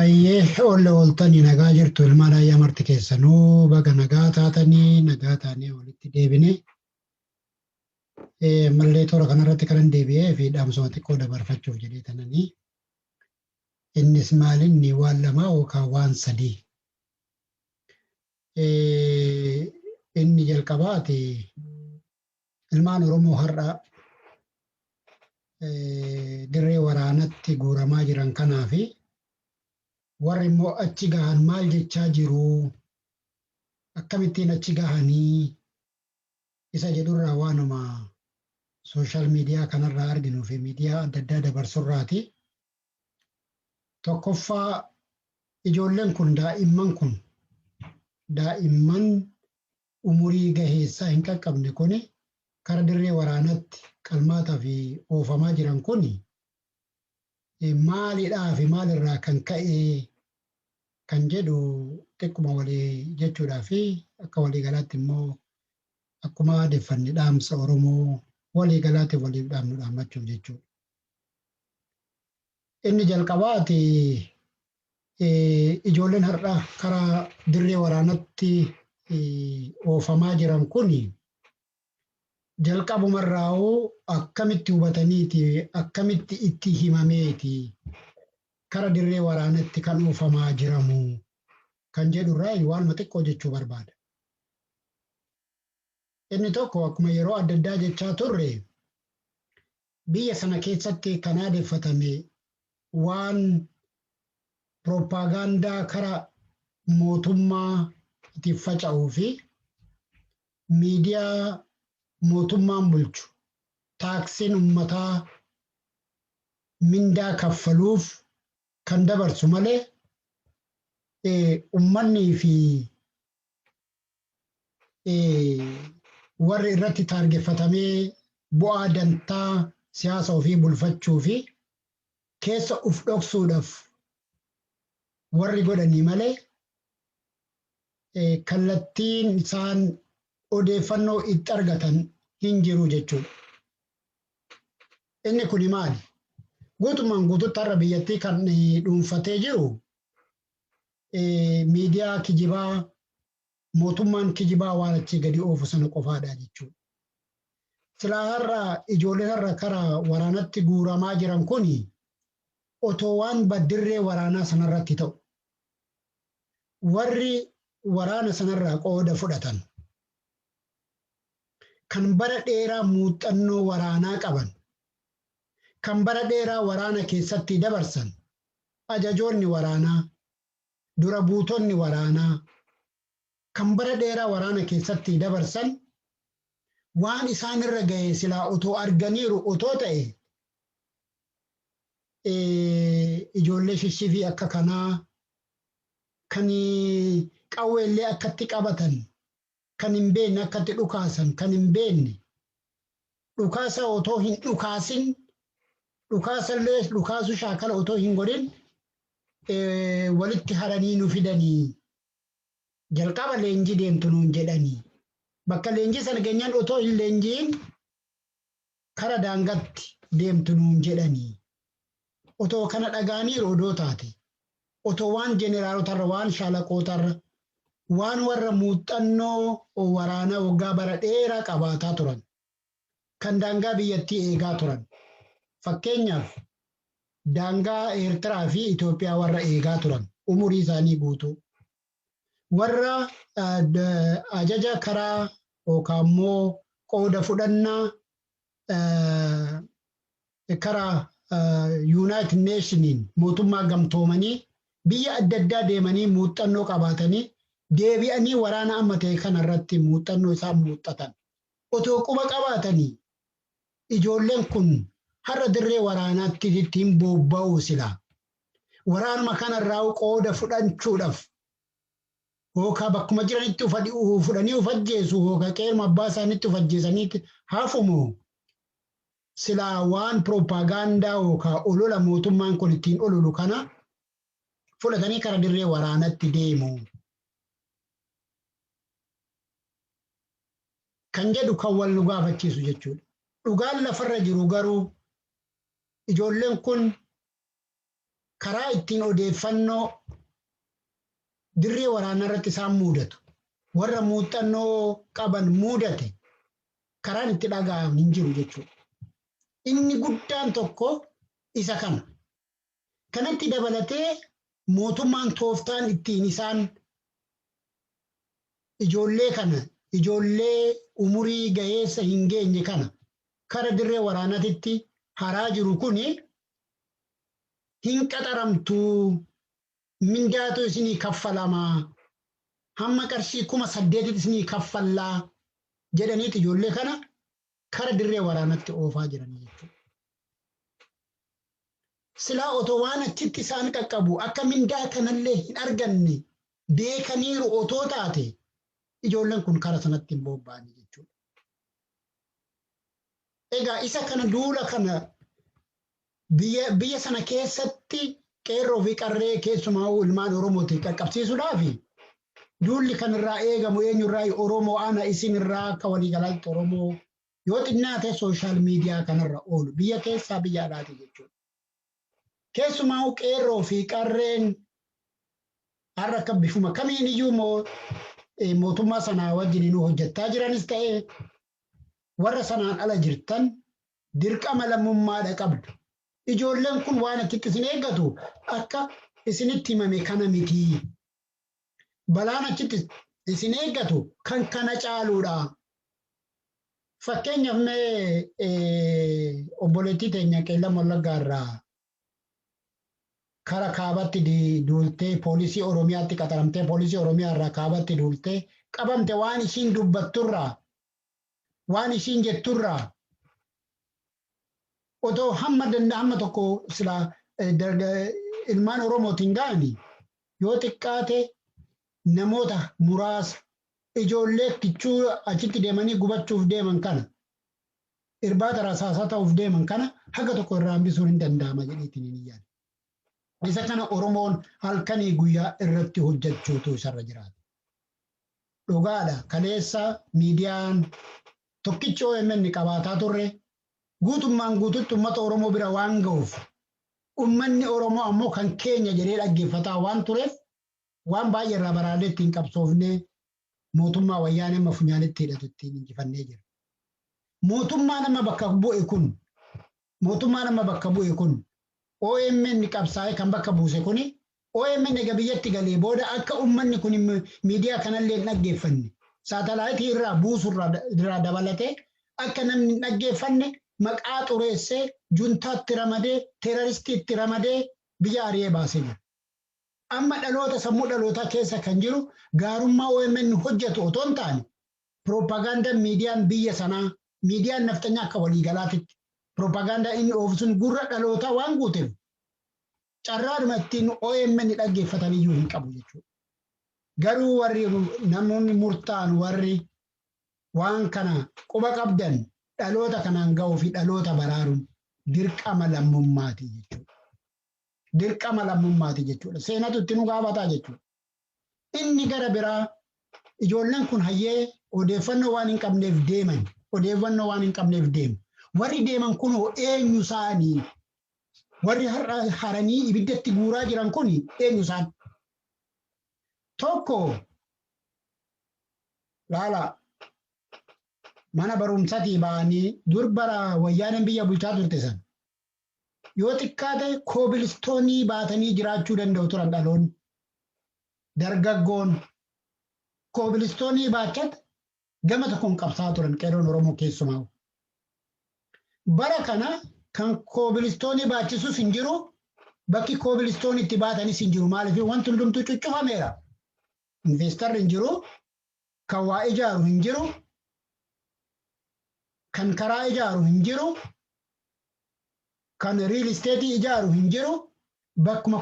Ayyee olle ooltanii nagaa jirtu ilmaan ayyaa marti keessanuu baga nagaa taatanii nagaa taanee walitti deebine. Eh, Mallee toora kanarratti kanan deebi'ee fi dhaamsuma xiqqoo dabarfachuuf jedhee tananii. Innis maalinni waan lamaa yookaan waan sadii. Eh, Inni jalqabaati Ilmaan Oromoo har'a dirree waraanatti guuramaa jiran kanaa fi warri immoo achi gahan maal jechaa jiru akkamittiin achi gahanii isa jedhurraa waanuma sooshaal miidiyaa kanarraa arginuu fi miidiyaa adda addaa dabarsurraati. Tokkoffaa ijoolleen kun daa'imman kun daa'imman umurii gaheessaa hin qaqqabne kuni kara dirree waraanatti qalmaataa fi oofamaa jiran kuni maalidhaa fi maal irraa kan ka'ee kan jedhu xiqquma walii jechuudhaa fi akka walii galaatti immoo akkuma aadeffanne dhaamsa Oromoo walii galaatiif waliif dhaamnu dhaammachuuf jechuudha. Inni jalqabaati Ijoolleen har'a kara dirree waraanatti oofamaa jiran kun jalqabumarraa'uu akkamitti hubataniiti akkamitti itti himameeti kara dirree waraanatti kan oofamaa jiramu kan jedhurraa waanuma xiqqoo jechuu barbaada. Inni tokko akkuma yeroo adda addaa jechaa turre Biyya sana keessatti kan aadeffatame waan pirooppaagaandaa kara mootummaa tiin faca'uu fi miidiyaa mootummaan bulchu taaksiin ummataa mindaa kaffaluuf kan dabarsu malee ummannii fi warri irratti taargeffatamee bu'aa dantaa siyaasa ofii bulfachuu fi keessa uf dhoksuudhaaf warri godhanii malee kallattiin isaan odeeffannoo itti argatan hin jiru jechuudha. Inni kuni maali? Guutummaan guututti har'a biyyattii kan dhuunfatee jiru miidiyaa kijibaa mootummaan kijibaa waan achii gadi oofu sana qofaadha jechuudha. Silaa har'a ijoolleen har'a kara waraanatti guuramaa jiran kun otoo waan baddirree waraanaa sanarratti ta'u warri waraana sanarraa qooda fudhatan kan bara dheeraa muuxannoo waraanaa qaban kan bara dheeraa waraana keessatti dabarsan ajajoonni waraanaa, dura buutonni waraanaa kan bara dheeraa waraana keessatti dabarsan waan isaan irra ga'e silaa otoo arganiiru otoo ta'e ijoollee shifshifii akka kanaa kan qawweellee akkatti qabatan kan hin beekne akka itti dhukaasan kan hin beekne dhukaasa otoo hin dhukaasin dhukaasa illee dhukaasu shaakala otoo hin godhin walitti haranii nu fidanii jalqaba leenjii deemtu nuun jedhanii bakka leenjii sana geenyaan otoo hin leenjiin kara daangatti deemtu nuun jedhani. Otoo kana dhaga'aniiru odoo taate, otoo waan jeneraarotarra, waan shaalaqootarra, waan warra muuxxannoo waraanaa waggaa bara dheeraa qabaataa turan, kan daangaa biyyattii eegaa turan, fakkeenyaaf daangaa Eertiraa fi Itoophiyaa warra eegaa turan umurii isaanii guutuu, Warra ajaja karaa yookaan immoo qooda fudhannaa karaa Yuunaayitid Neeshiniin mootummaa gamtoomanii biyya adda addaa deemanii muuxxannoo qabaatanii deebi'anii waraana amma ta'e kana irratti muuxxannoo isaan muuxxatan otoo quba qabaatanii ijoolleen kun har'a dirree waraanaatti ittiin bobba'uu silaa. Waraanuma kanarraa qooda fudhanchuudhaf hookaa bakkuma jiranitti fudhanii uf ajjeesu hooka qeeruma abbaa isaanitti uf ajjeesanii hafumo silaa waan pirooppaagaandaa hookaa olola mootummaan kun ittiin ololu kana fudhatanii kara dirree waraanatti deemu. Kan jedhu kan wal nu gaafachiisu jechuudha. Dhugaan lafarra jiru garuu ijoolleen kun karaa ittiin odeeffannoo dirree waraanaa irratti isaan muudatu warra muuxannoo qaban muudate karaan itti dhaga'amu hin jiru jechuudha. Inni guddaan tokko isa kana. Kanatti dabalatee mootummaan tooftaan ittiin isaan ijoollee kana ijoollee umurii gaheessa hin geenye kana kara dirree waraanaatitti haraa jiru kuni hin qaxaramtuu mindaatu isinii kaffalamaa hamma qarshii kuma saddeetitti isinii kaffallaa jedhaniiti ijoollee kana kara dirree waraanatti oofaa jiranii jechuudha. Silaa otoo waan achitti isaan qaqqabu akka mindaa kanallee hin arganne beekaniiru otoo taate ijoolleen kun kara sanatti hin bobba'anii jechuudha. Egaa isa kana duula kana biyya biyya sana keessatti qeerroo fi qarree keessumaa ilmaan Oromootiin qaqqabsiisuudhaaf duulli kan irraa eegamu eenyurraa Oromoo ana isin irraa akka waliigalaatti Oromoo yoo xinnaate sooshaal miidiyaa kanarra oolu biyya keessaa biyya alaati jechuudha. Keessumaa qeerroo fi qarreen har'a akka bifuma kamiin iyyuu moo- eh, mootummaa sanaa wajjin nu hojjechaa jiranis ta'e warra sanaan ala jirtan dirqama lammummaadha qabdu. Ijoolleen kun waan achitti isin eeggatu akka isinitti himame kana miti. Balaan achitti isin eeggatu kan kana caaluudha. Fakkeenyaaf mee obboleettii teenya Qeellam Wallaggaa irraa kara kaabatti duultee poolisii Oromiyaatti qaxaramtee poolisii Oromiyaa irraa kaabatti duultee qabamte waan isiin dubbatturraa waan isiin jetturraa otoo hamma danda hamma tokko sila ilmaan Oromootiin ga'ani yoo xiqqaate namoota muraasa ijoollee kichuu achitti deemanii gubachuuf deeman kana irbaata rasaasaa ta'uuf deeman kana haga tokko irraa hambisuun hin danda'ama jedheetiin hin yaadu. Isa kana Oromoon halkanii guyyaa irratti hojjechuutu isarra jiraata. Dhugaadha kaleessa miidiyaan tokkichi OMN qabaataa turre guutummaan guututti uummata Oromoo bira waan ga'uuf uummanni Oromoo ammoo kan keenya jedhee dhaggeeffataa waan tureef waan baay'ee irraa baraarree ittiin qabsoofnee mootummaa wayyaanee amma funyaanitti hidhatu ittiin injifannee jirra. Mootummaan amma bakka bu'e kun mootummaan amma bakka bu'e kun OMN qabsaa'ee kan bakka buuse kuni OMN egaa biyyatti galee booda akka ummanni kun miidiyaa kanallee hin dhaggeeffanne saatalaayitii irraa buusu irraa dabalatee akka namni hin dhaggeeffanne maqaa xureessee juntaatti ramadee teeraristiitti ramadee biyya ari'ee baasee jira. Amma dhaloota sammuu dhalootaa keessa kan jiru gaarummaa omn hojjatu otoo hin taane piroopagaandan miidiyaan biyya sanaa, miidiyaan nafxanyaa akka waliigalaatitti piroopagaandaa inni oofu sun gurra dhalootaa waan guuteef carraadhuma ittiin omn dhaggeeffatan iyyuu hin qabu jechuudha. Garuu warri namoonni murtaan warri waan kana quba qabdan dhaloota kanaan ga'uu fi dhaloota baraaruun dirqama lammummaati jechuudha. dirqama lammummaati jechuudha. Seenatu itti nu gaafataa jechuudha. Inni gara biraa ijoolleen kun hayyee odeeffannoo waan hin qabneef deeman. Odeeffannoo waan hin qabneef deemu. Warri deeman kunoo eenyu isaanii? Warri har'a haranii ibiddatti guuraa jiran kun eenyu isaan? Tokko laala mana barumsatii ba'anii dur bara wayyaaneen biyya bulchaa turte san yoo xiqqaate koobilistoonii baatanii jiraachuu danda'u turan dhaloonni. Dargaggoon koobilistoonii baachat gama tokkoon qabsaa turan qeerroon Oromoo keessumaa. Bara kana kan koobilistoonii baachisus hin jiru bakki koobilistoonii itti baatanis hin jiru maaliif wanti hundumtuu cuccufameera. Investarri hin jiru Kan waa ijaaru hin jiru, kan karaa ijaaru hin jiru, kan riil isteetii ijaaru hin jiru, bakkuma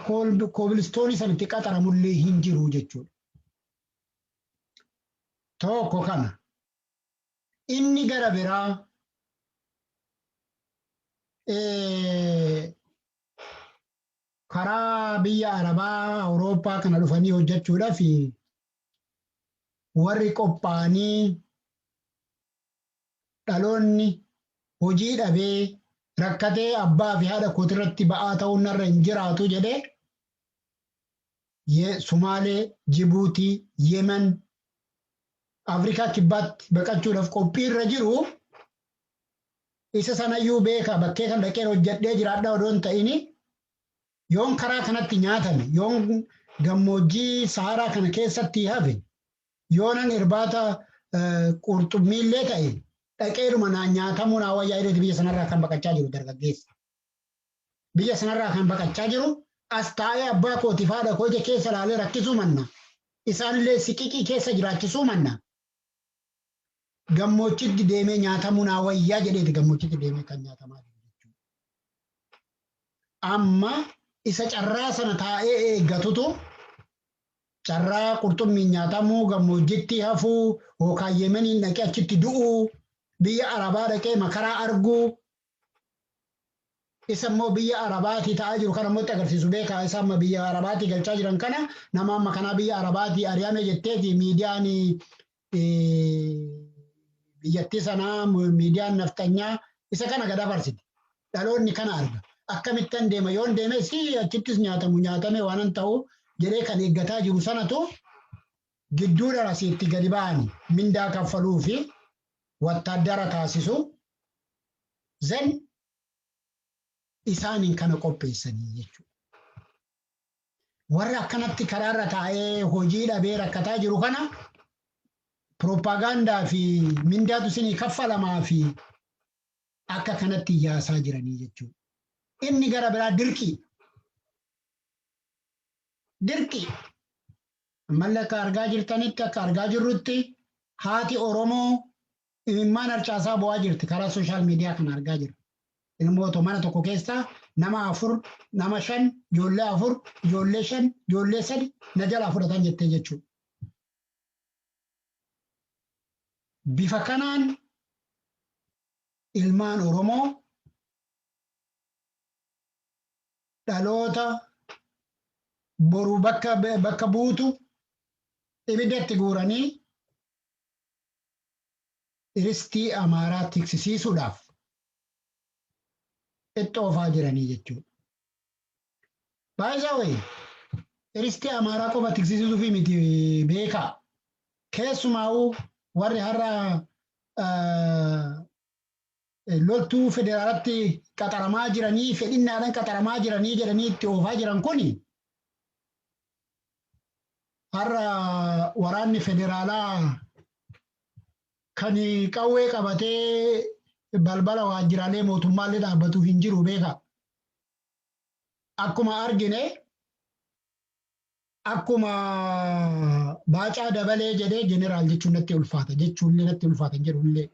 koobilistoonii san itti qaxaramullee hin jiru jechuudha. Tokko kana. Inni gara biraa karaa biyya Arabaa, Awurooppaa kana dhufanii hojjechuudhaaf warri qophaa'anii dhaloonni hojii dhabee rakkatee abbaa fi haadha kootirratti ba'aa ta'uun narra hin jiraatu jedhee Ye- Sumaalee, Jibuutii, Yemen, Afrikaa kibbaatti baqachuudhaaf qophii irra jiru isa sanayyuu beeka bakkee kan dhaqeen hojjedhee jiraadhaa odoo hin ta'ini Yoon karaa kanatti nyaatame, yoon gammoojjii Sahaaraa kana keessatti hafe, yoonan irbaata qurxummiillee ta'e dhaqeedhuma naan nyaatamuu naa wayyaa jedheeti biyya sanarraa kan baqachaa jiru dargaggeessa. Biyya sanarraa kan baqachaa jiru as taa'ee abbaa kootiif haadha koo ija keessa ilaalee rakkisuu manna, isaanillee siqiqii keessa jiraachisuu manna, gammoochitti deemee nyaatamuu naa wayyaa jedheeti gammoochitti deemee kan nyaatamaa jiru jechuudha. Amma isa carraa sana taa'ee eeggatutu carraa qurxummiin nyaatamuu gammoojjitti hafuu yookaan Yemeniin dhaqee achitti du'uu biyya Arabaa dhaqee makaraa arguu isa immoo biyya arabaatii ta'aa jiru kana immoo itti agarsiisu beekaa isa amma biyya arabaatii galchaa jiran kana nama amma kanaa biyya arabaatii ari'ame jetteeti miidiyaan biyyattii sanaa miidiyaan nafxanyaa isa kana gad afarsiti dhaloonni kana arga akkamittan deema yoon deeme si achittis nyaatamu nyaatame waanan ta'u jedhee kan eeggataa jiru sanatu gidduudhaan asiitti gadi ba'an mindaa kaffaluu fi wattaaddara taasisu then isaaniin kana qopheessanii jechuudha. Warra akkanatti karaarra taa'ee hojii dhabee rakkataa jiru kana pirooppaagaandaa fi mindaatu isinii kaffalamaa fi akka kanatti yaasaa jiranii jechuudha. Inni gara biraa dirqii. Dirqii. Ammalle akka argaa jirtanitti akka argaa jirrutti haati Oromoo imimmaan harcaasaa bo'aa jirti karaa sooshaal miidiyaa kana argaa jirra. Ilmoo too mana tokko keessaa nama afur nama shan ijoollee afur ijoollee shan ijoollee sadi na jalaa fudhatan jettee jechuudha. Bifa kanaan ilmaan Oromoo dhaloota boru bakka bakka buutu ibidda itti guuranii iristii Amaaraa tiksisiisuudhaaf itti oofaa jiranii jechuudha. Baay'ee wayi iristii Amaaraa qofa tiksisiisuufi miti beekaa. Keessumaa'uu warri har'a loltuu federaalatti qaxaramaa jiranii fedhinnaadhaan qaxaramaa jiranii jedhanii itti oofaa jiran kun har'a waraanni federaalaa kan qawwee qabatee balbala waajjiraalee mootummaallee dhaabbatu hin jiru beeka. Akkuma argine Akkuma Baacaa Dabalee jedhee jeneraal jechuun natti ulfaata jechuun illee natti ulfaata hin jedhu illee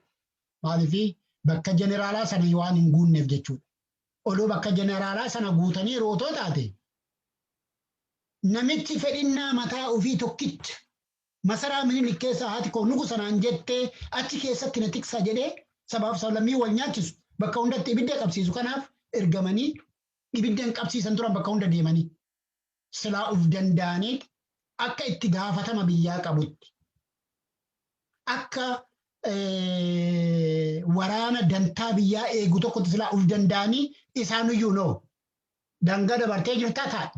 maaliifi bakka jeneraalaa sana waan hin guunneef jechuudha. Odoo bakka jeneraalaa sana guutanii rootoo taate namichi fedhinnaa mataa ofii tokkicha masaraa minilik keessa haati koo nugu sanaan jettee achi keessatti na tiksaa jedhee sabaaf sablammii wal nyaachisu bakka hundatti ibidda qabsiisu kanaaf ergamanii ibidda hin qabsiisan turan bakka hunda deemanii. silaa uf danda'aniit akka itti gaafatama biyyaa qabutti akka waraana dantaa biyyaa eegu tokkotti silaa uf danda'anii isaanuyyuu noo dangaa dabartee jirtaa taa'e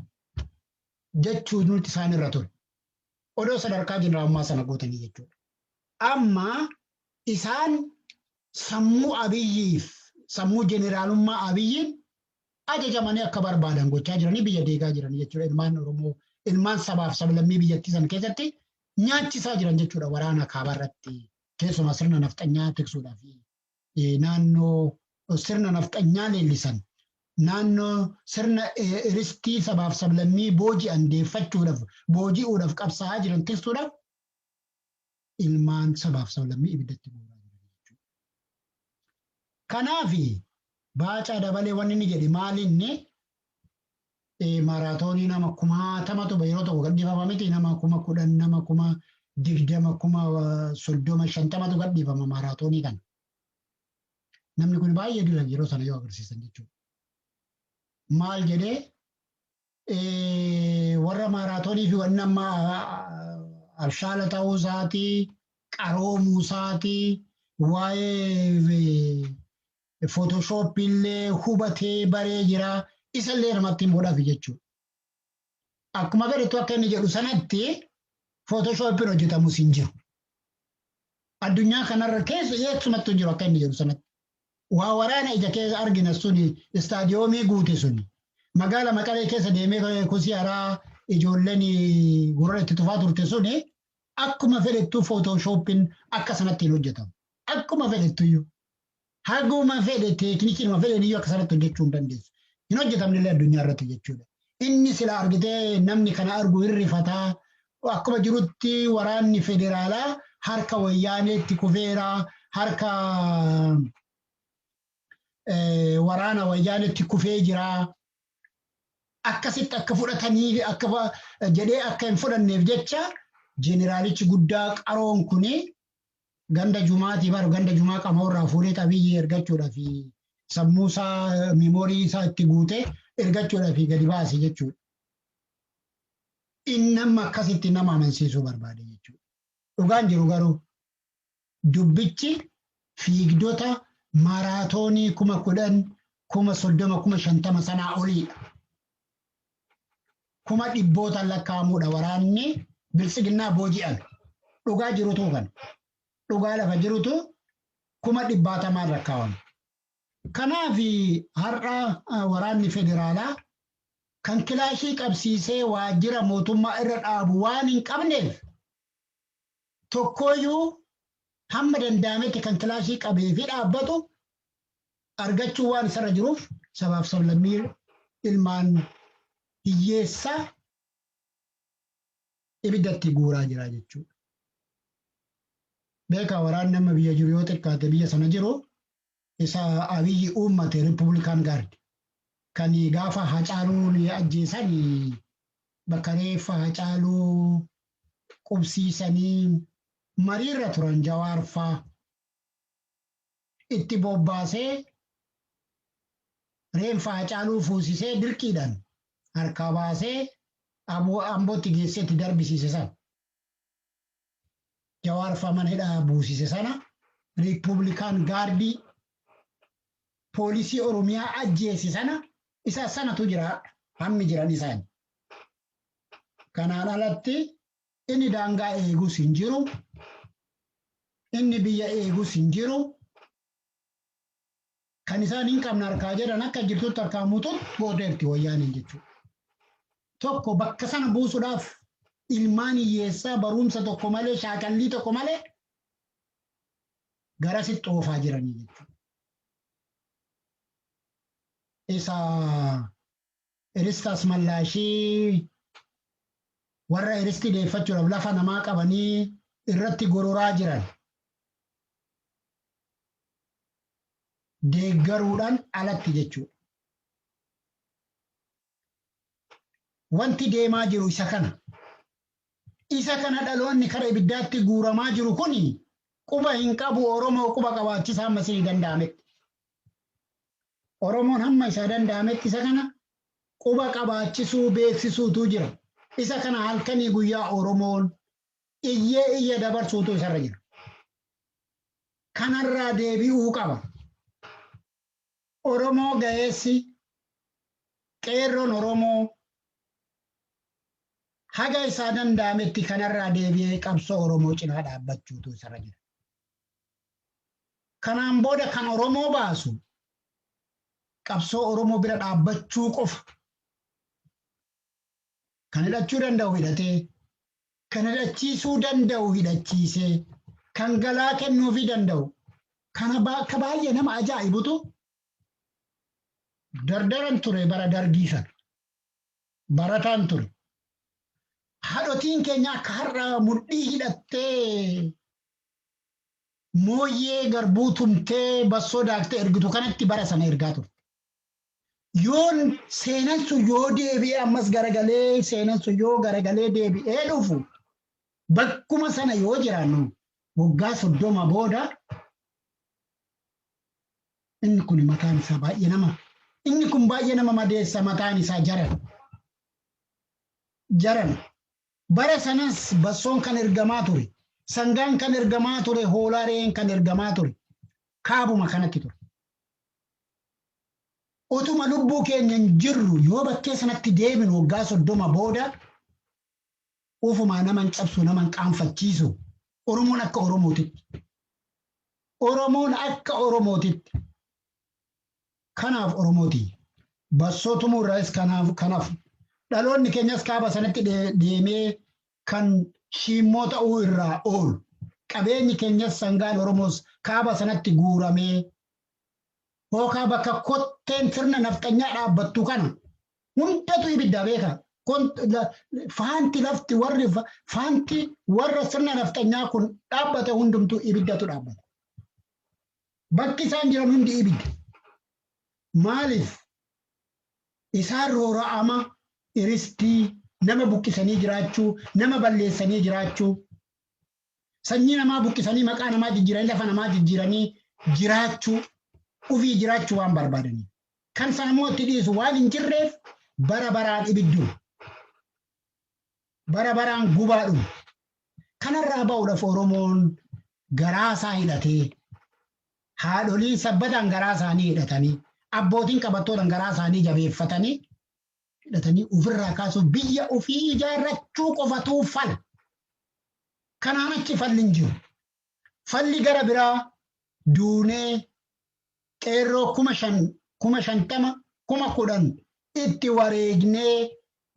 jechuu nuti isaan irra ture. Odoo sadarkaa jeneraammaa sana guutanii jechuudha. Amma isaan sammuu abiyyiif sammuu jeneraalummaa abiyyiin ajajamanii akka barbaadan gochaa jiranii biyya diigaa jiranii jechuudha ilmaan Oromoo ilmaan sabaaf sablammii biyyattii san keessatti nyaachisaa jiran jechuudha waraana kaabaa irratti keessumaa sirna nafxanyaa tiksuudhaa fi naannoo sirna nafxanyaa leellisan naannoo sirna ristii sabaaf sablammii booji'an deeffachuudhaaf booji'uudhaaf qabsaa'aa jiran tiksuudhaaf ilmaan sabaaf sablammii ibiddatti guuraa jiran jechuudha. Kanaaf Baacaa Dabalee wanni inni jedhe maali inni maaraatoonii nama kumaatamatu yeroo tokko gadhiifama miti nama kuma kudhan nama kuma digdama kuma soddoma shantamatu gadhiifama maaraatoonii kana. Namni kun baay'ee dura yeroo sana yoo agarsiisan jechuudha. Maal jedhee warra maaraatoonii fi wanni amma abshaala ta'uu isaati, qaroomuu isaati, waa'ee footoshoopii illee hubatee baree jira. Isa illee namatti himuudhaaf jechuudha. Akkuma agartu akka inni jedhu sanatti footoshooppiin hojjetamus hin jiru. Addunyaa kanarra keessa eessumatti hin jiru akka inni jedhu sanatti. Waa waraana ija keessa argina suni istaadiyoomii guute suni. Magaala Maqalee keessa deemee kosii haraa ijoolleen gurra itti tufaa turte suni akkuma fedhettuu footooshooppin akka sanatti hin hojjetamu. Akkuma fedhettuyyuu. Haguma fedhe teeknikiinuma fedheen iyyuu akka sanatti hojjechuu hin dandeessu. Hin hojjetamne illee addunyaa irratti jechuudha. Inni sila argitee namni kana argu hin rifataa Akkuma jirutti waraanni federaalaa harka wayyaaneetti kufeera, harka waraana wayyaaneetti kufee jira. Akkasitti akka fudhatanii akka jedhee akka hin fudhanneef jecha jeneraalichi guddaa qaroon kun ganda jumaatii bar ganda jumaa qamoorraa fuudhee qabiyyee ergachuudhaa fi sammuu isaa miimoorii isaa itti guutee ergachuudhaa fi gadi baase jechuudha. Inni amma akkasitti nama amansiisuu barbaade jechuudha. Dhugaan jiru garuu dubbichi fiigdota maaraatoonii kuma kudhan, kuma soddoma, kuma shantama sanaa oliidha. Kuma dhibbootaan lakkaa'amuudha waraanni biltsiginnaa booji'ame. Dhugaa jirutu kana. Dhugaa lafa jirutu kuma dhibbaatamaan lakkaa'ame. Kanaaf har'a waraanni federaalaa kan kilaashii qabsiisee waajjira mootummaa irra dhaabu waan hin qabneef tokkooyyuu hamma danda'ametti kan kilaashii qabee fi dhaabbatu argachuu waan isarra jiruuf sabaaf sablammii ilmaan hiyyeessa ibiddatti guuraa jira jechuudha. Beekaa waraanni amma biyya jiru yoo xiqqaate biyya sana jiru Isa Abiyyi uummate Rippubulikaani Gaardi. Kan gaafa Hacaaluun ajjeesan bakka reeffa Hacaaluu qubsiisanii mariirra turan Jawaar faa. Itti bobbaasee reenfa Hacaaluu fuusisee dirqiidhaan harkaa baasee Ambootti geessee itti darbisiise sana. Jawaar faa mana hidhaa buusise sana Riippuublikaan gaardii poolisii Oromiyaa ajjeese sana isa sanatu jira har'a hammi jiran isaani. Kanaan alatti inni daangaa eegus hin jiru, inni biyya eegus hin jiru. kan isaan hin qabne harkaa jedhan akka jirtutti harkaa muututti gooteerti wayyaaneen jechuudha. Tokko bakka sana buusuudhaaf ilmaan hiyyeessaa barumsa tokko malee shaakallii tokko malee garasitti oofaa jiranii jechuudha. Isa Iristii Asmallaashii warra iristii deeffachuudhaaf lafa namaa qabanii irratti gororaa jiran deeggaruudhaan alatti jechuudha. Wanti deemaa jiru isa kana. Isa kana dhaloonni kara ibiddaatti guuramaa jiru kun quba hin qabu Oromoo quba qabaachisaa ammas ni danda'ametti. Oromoon hamma isaa danda'ametti isa kana quba qabaachisuu, beeksisuutu jira. Isa kana halkanii guyyaa Oromoon iyyee iyya dabarsuutu isarra jira. Kanarraa deebi'uu qaba. Oromoo gaheessi qeerroon Oromoo haga isaa danda'ametti kanarraa deebi'ee qabsoo Oromoo cinaa dhaabbachuutu isarra jira. Kanaan booda kan Oromoo baasu qabsoo Oromoo bira dhaabbachuu qofa. Kan hidhachuu danda'u hidhatee, kan hidhachiisuu danda'u hidhachiisee, kan galaa kennuufii danda'u. Kana akka baay'ee nama ajaa'ibutu dardaran ture bara dargii sana. Barataan ture. Haadhotiin keenya akka har'a mudhii hidhattee Mooyyee garbuu tumtee bassoo daakte ergitu kanatti bara sana ergaa turte. Yoon seenan sun yoo deebi'ee ammas garagalee seenan sun yoo garagalee deebi'ee dhufu bakkuma sana yoo jiraannu waggaa soddoma booda inni kun mataan isaa baay'ee nama inni kun baay'ee nama madeessa mataan isaa jaran jaran Bara sanas bassoon kan ergamaa ture, sangaan kan ergamaa ture, hoolaa re'een kan ergamaa ture kaabuma kanatti ture. Otuma lubbuu keenyan jirru yoo bakkee sanatti deebinu waggaa soddoma booda ufumaa naman cabsu naman qaanfachiisu Oromoon akka Oromootitti. Oromoon akka Oromootitti. Kanaaf Oromoo tiyya! Bassoo tumuu irraayis kan hafu, dhaloonni keenyas kaaba sanatti deemee kan shiimmoo ta'uu irraa oolu, qabeenyi keenyas sangaan Oromoos kaaba sanatti guuramee, hookaa bakka kotteen sirna nafxanyaa dhaabbattu kana hundatu ibiddaa beekaa! Faanti lafti warri faanti warra sirna nafxanyaa kun dhaabbate hundumtuu ibiddatu dhaabbata. Bakki isaan jiran hundi ibidda. Maaliif? Isaan roora'ama, iristii, nama buqqisanii jiraachuu, nama balleessanii jiraachuu, sanyii namaa buqqisanii maqaa namaa jijjiiranii lafa namaa jijjiiranii jiraachuu, ofii jiraachuu waan barbaadaniif. Kan sana immoo itti dhiisu waan hin jirreef bara baraan ibidduma. bara baraan gubaa dhumu. Kanarraa ba'uudhaaf Oromoon garaa isaa hidhatee haadholiin sabbataan garaa isaanii hidhatanii abbootiin qabattootaan garaa isaanii jabeeffatanii hidhatanii ofirraa kaasuuf biyya ofii ijaarrachuu qofatuu fala. Kanaan achi falli hin jiru. Falli gara biraa duunee qeerroo kuma shan kuma shantama kuma kudhan itti wareegnee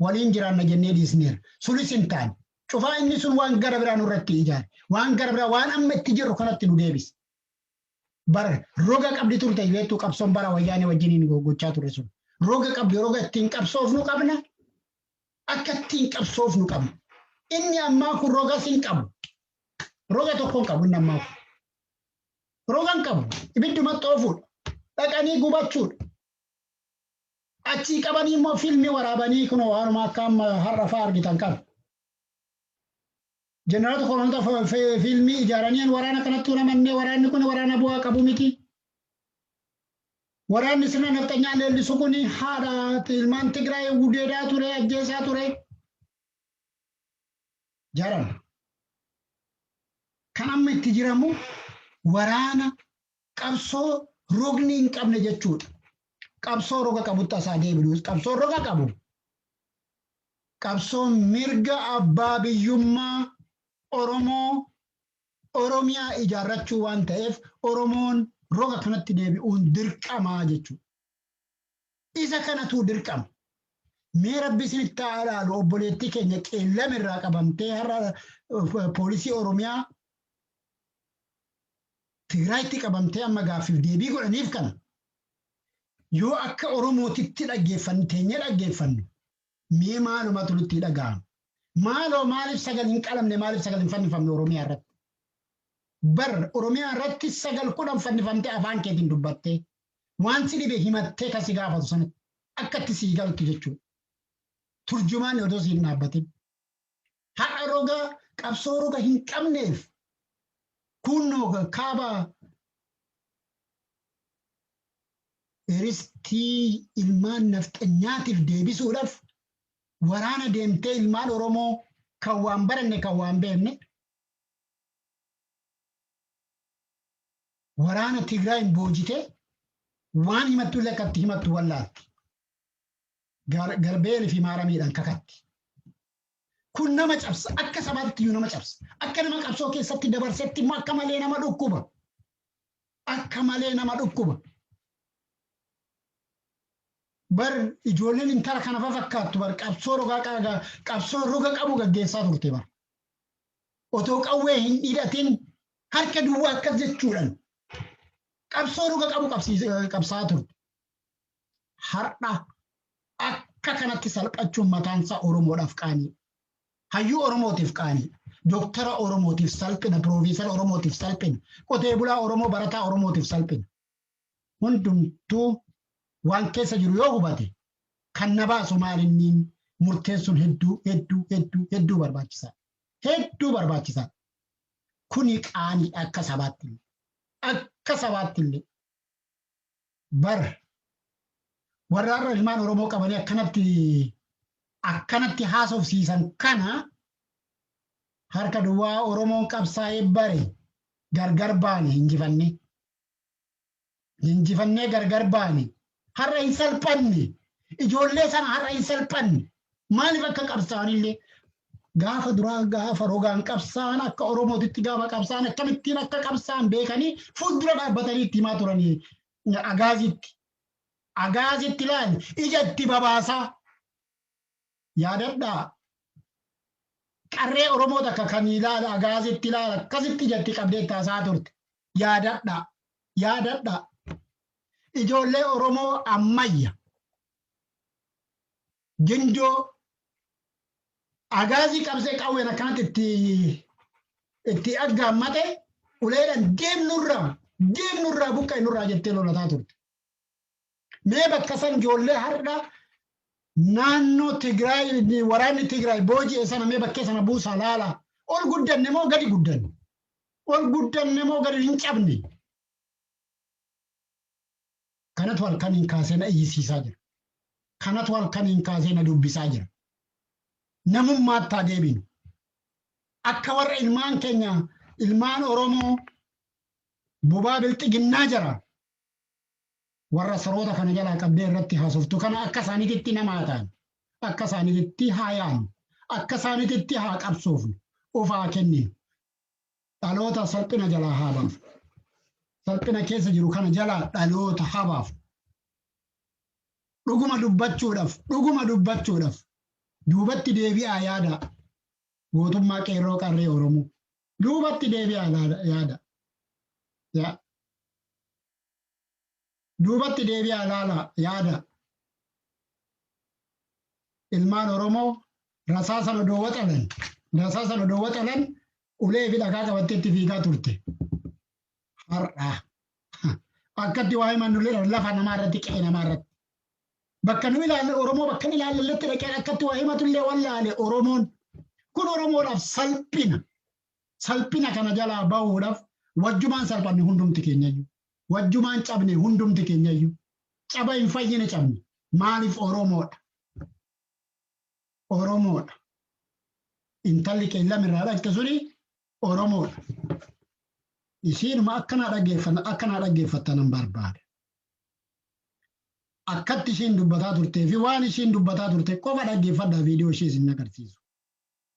waliin jiraanna jennee dhiisneera. Sunis hin taane. Cufaa inni sun waan gara biraa nurratti ijaare. Waan gara biraa waan amma itti jirru kanatti nu deebise. Bara roga qabdi turte beektuu qabsoon bara wayyaanee wajjiniin gochaa ture sun. Roga qabdi roga ittiin qabsoofnu qabna. Akka ittiin qabsoofnu qabna. Inni ammaa kun rogas hin qabu. Roga tokko hin qabu inni ammaa kun. Proof hin qabu. Ibidduma xoofuudha. Dhaqanii gubachuudha. Achii qabanii immoo fiilmii waraabanii kunoo waanuma akka amma har'a fa'aa argitan kana. Jeneraata kolonoota fa- fi- fiilmii ijaaranii waraana kanatti uumamannee waraanni kun waraana bu'aa qabu miti. Waraanni sirna nafxanyaa leellisu kun haadha ilmaan Tigraay gudeedaa ture, ajjeesaa ture. Jaran kan amma itti jiramu waraana qabsoo rogni hin qabne jechuudha. Qabsoo roga qabutti asaa deebinuus qabsoo roga qabu. Qabsoo mirga abbaa biyyummaa Oromoo Oromiyaa ijaarrachuu waan ta'eef Oromoon roga kanatti deebi'uun dirqamaa jechuudha. Isa kanatuu dirqama. Mee rabbi isinitti haa alaalu obboleettii keenya qeellam irraa qabamtee har'a poolisii Oromiyaa Tigraayitti qabamtee amma gaaffiif deebii godhaniif kana yoo akka Oromootitti dhaggeeffannu teenyee dhaggeeffannu mee maalumatu nutti dhaga'ama. Maaloo maaliif sagal hin qalamne maaliif sagal hin fannifamne Oromiyaa irratti? Bar Oromiyaa irratti sagal kudhan fannifamtee afaan keetiin dubbattee. waan si dhibe himattee kan si gaafatu sanatti akka itti sii galtu jechuudha. Turjumaan odoo siin dhaabbatin. Har'a roga qabsoo roga hin qabneef kunnoo kaaba ristii ilmaan nafxanyaatiif deebisuudhaaf waraana deemtee ilmaan Oromoo kan waan baranne kan waan beekne waraana Tigraayin boojitee waan himattu illee akkatti himattu wallaatti. Garbeel fi maaramiidhaan kakatti. Kun nama cabsa akka sabaatti iyyuu nama cabsa. Akka nama qabsoo keessatti dabarsetti immoo akka malee nama dhukkuba. Akka malee nama dhukkuba. Bar ijoolleen intala kana fafakkaattu bar qabsoo roga qabsoo roga qabu gaggeessaa turte bar. otoo qawwee hin hidhatin harka duwwaa akkas jechuudhaan qabsoo dhuga qabu qabsaa turte. Har'a akka kanatti salphachuun mataan isaa Oromoodhaaf qaanii. Hayyuu Oromootiif qaanii. Dooktara Oromootiif salphina, Piroofeesara Oromootiif salphina, qotee bulaa Oromoo barataa Oromootiif salphina. hundumtuu waan keessa jiru yoo hubate kan na baasu maalinniin murteessuun hedduu hedduu hedduu hedduu barbaachisaadha. Hedduu barbaachisaadha. Kuni qaaniidha akka sabaatti illee. Akka sabaatti illee. Bar warra har'a ilmaan Oromoo qabanii akkanatti akkanatti haasofsiisan kana harka duwwaa Oromoon qabsaa'ee bare gargar baane injifannee. Injifannee gargar baane. Har'a hin salphanne. Ijoollee sana har'a hin salphanne. Maaliif akka qabsaa'anillee gaafa duraa gaafa rogaan qabsaa'an akka Oromootitti gaafa qabsaa'an akkamittiin akka qabsaa'an beekanii fuuldura dhaabbatanii itti himaa turanii agaazitti. Agaazitti laali ija itti babaasaa. Yaadadhaa! Qarree Oromoo takka kan ilaala agaasitti ilaala akkasitti ijatti qabdee itti haasa'aa turte. Yaadadhaa! Yaadadhaa! Ijoollee Oromoo ammayya gindoo agaazii qabsee qawween akkanatti itti itti aggaammate uleedhaan deemnurraa deemnurraa buqqa'e nurraa jettee lolataa turte. Mee bakka san ijoollee har'a naannoo Tigraay waraanni Tigraay booji'e sana mee bakkee sana buusaa laala. Ol guddanne moo gadi guddanne? Ol guddanne moo gadi hin cabne? Kanatu halkaniin kaasee na iyyisiisaa jira. Kanatu halkaniin kaasee na dubbisaa jira. Namummaatti haa deebinu. Akka warra ilmaan keenya ilmaan Oromoo bobaa bilxiginnaa jara warra saroota kana jalaa qabdee irratti haasoftu kana akka isaaniititti nama haa taanu, akka isaaniititti haa yaannu, akka isaaniititti haa qabsoofnu, of haa kenninu, dhaloota salphina jalaa haa baafnu. Salphina keessa jiru kana jalaa dhaloota haa baafnu. Dhuguma dubbachuudhaaf, dhuguma dubbachuudhaaf duubatti deebi'aa yaadaa gootummaa qeerroo qarree Oromoo. Duubatti deebi'aa yaada. Yaa. Duubatti deebi'aa ilaalaa yaadaa. Ilmaan Oromoo rasaasa lodoo waxalan, rasaasa lodoo waxalan ulee fi dhagaa qabattee itti fiigaa turte. Har'a akkatti waa himan nullee lafa namaa irratti qe'ee namaa irratti. Bakka nu ilaalle Oromoo bakka nu ilaalletti dhaqee akkatti waa himatu illee wallaale Oromoon. Kun Oromoodhaaf salphina. Salphina kana jalaa bahuudhaaf wajjumaan salphanne hundumti keenyayyu. Wajjumaan cabne hundumti keenyayyu. Caba hin fayyine cabne. Maaliif Oromoodha. Oromoodha. Intalli qeellam irraa dhaqxe suni Oromoodha. Isiinuma akka naa dhaggeeffatan akka naa dhaggeeffattan nan barbaada. Akkatti ishiin dubbataa turtee fi waan ishiin dubbataa turte qofa dhaggeeffadhaa viidiyoo ishee isin agarsiisu.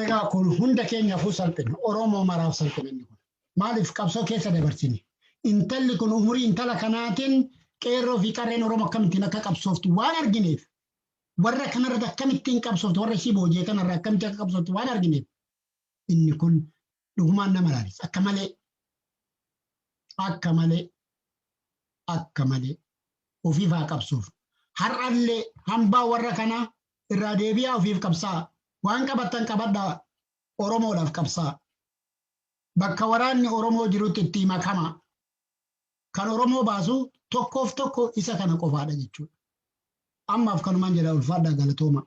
Egaa kun hunda keenyaafuu salphina. Oromoo maraaf salphina inni kun. Maaliif qabsoo keessa dabarsine? Intalli kun umurii intala kanaatiin qeerroo fi qarreen Oromoo akkamittiin akka qabsooftu waan argineef warra kanarratti akkamittiin qabsoofte warra ishii boojee kanarra akkamitti akka qabsoofte waan argineef inni kun dhugumaan nama laalisa akka malee akka malee akka malee ofiif haa qabsuuf har'allee hambaa warra kanaa irraa deebi'aa ofiif qabsaa waan qabattan qabadhaa oromoodhaaf qabsaa bakka waraanni oromoo jirutti itti makama Kan Oromoo baasu tokkoof tokko isa kana qofaadha jechuudha. Ammaaf kanumaan jedha ulfaadhaa galatoomaa.